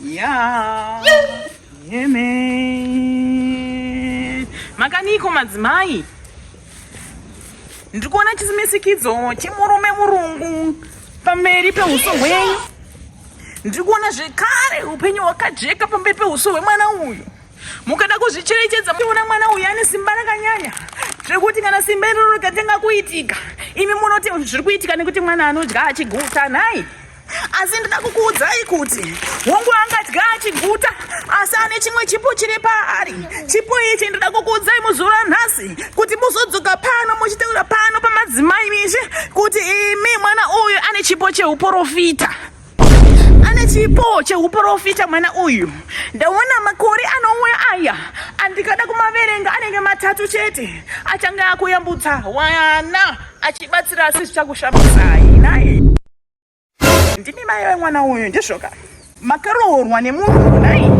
Yeah. Yeah, man. Makaniko madzimai? Ndiri kuona chisimisikidzo chemurume murungu pamberi pehuso hwenyu. Ndiri kuona zvekare upenyu hwakajeka pamberi pehuso hwemwana uyu. Mukada kuzvicherechedza muona mwana uyu ane simba rakanyanya zvekuti kana simba iroro rikatanga kuitika imi munoti zviri kuitika nekuti mwana anodya achiguta nhai asi ndida kukuudzai kuti hongu angadya achiguta asi ane chimwe chipo chiri paari chipo ichi ndida kukuudzai muzuva ranhasi kuti muzodzoka pano muchitaura pano pamadzimai mishe kuti imi mwana uyu ane chipo cheuporofita ane chipo cheuporofita mwana uyu ndaona makore anouya aya andikada kumaverenga anenge matatu chete achange akuyambutsa wana achibatsira asi zvichakushambisayi naye ndimi mai vemwana uyu ndizvoka makaroorwa nemunhu nai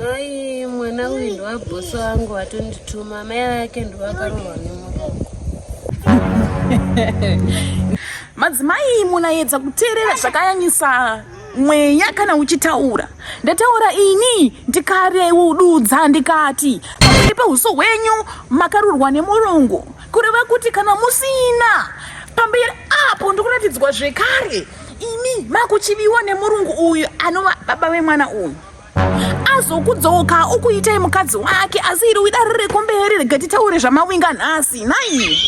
mai mwana uyu ndovabhosi vangu vatondituma mai vake ndovakaroorwa nemurungu madzimai munayedza kuteerera zvakayanyisa mweya kana uchitaura ndataura ini ndikareududza ndikati pamwiri pehuso hwenyu makarurwa nemurungu kureva kuti kana musina pamberi apo ndikuratidzwa zvekare imi makuchiviwa nemurungu uyu anova baba vemwana uyu azokudzoka ukuitai mukadzi wake asi iri widare rekumberi rega titaure zvamawinga nhasi nai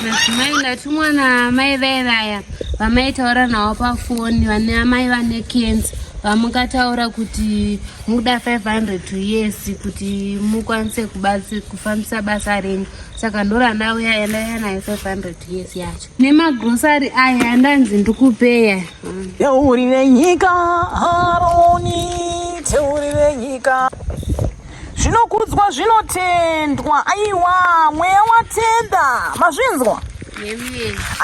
madzimai ndati mwana amai vaye vaya vamaitaura nawo pafoni vane amai vane kenzi vamukataura kuti muda 500 to yes kuti mukwanise kufambisa basa renyu saka ndorandauya yandaiya nayo 500 to yes yacho nemagrosari aya andanzi ndikupeya teurire nyika aroni teurire nyika zvinokudzwa zvinotendwa aiwa mweya watenda mazvinzwa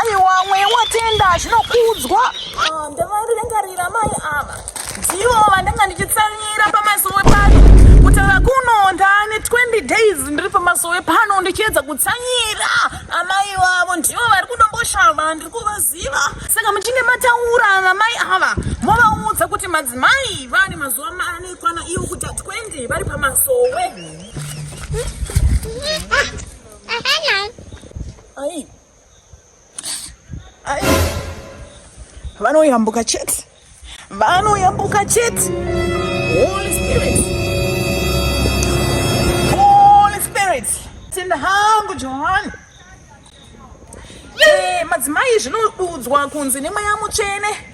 aiwa mweya watenda zvinokudzwa ah, ndavaringarira mai ava ndivo vandanga ndichitsamira pamasowe pano kutaura kuno ndaane 20 days ndiri pamasowe pano ndichiedza kutsanyira amai vavo ndivo vari kudomboshava ndiri kuvaziva saka muchinge mataura namai ava movaudza kuti madzimai vane mazuva mane kwana ivo kuti 20 vari pamasowe ai vanoyambuka chete vanoyambuka chete holy spirit holy spirit tenda hangu johani eh, madzimai zvinodudzwa kunzi nemweya mutsvene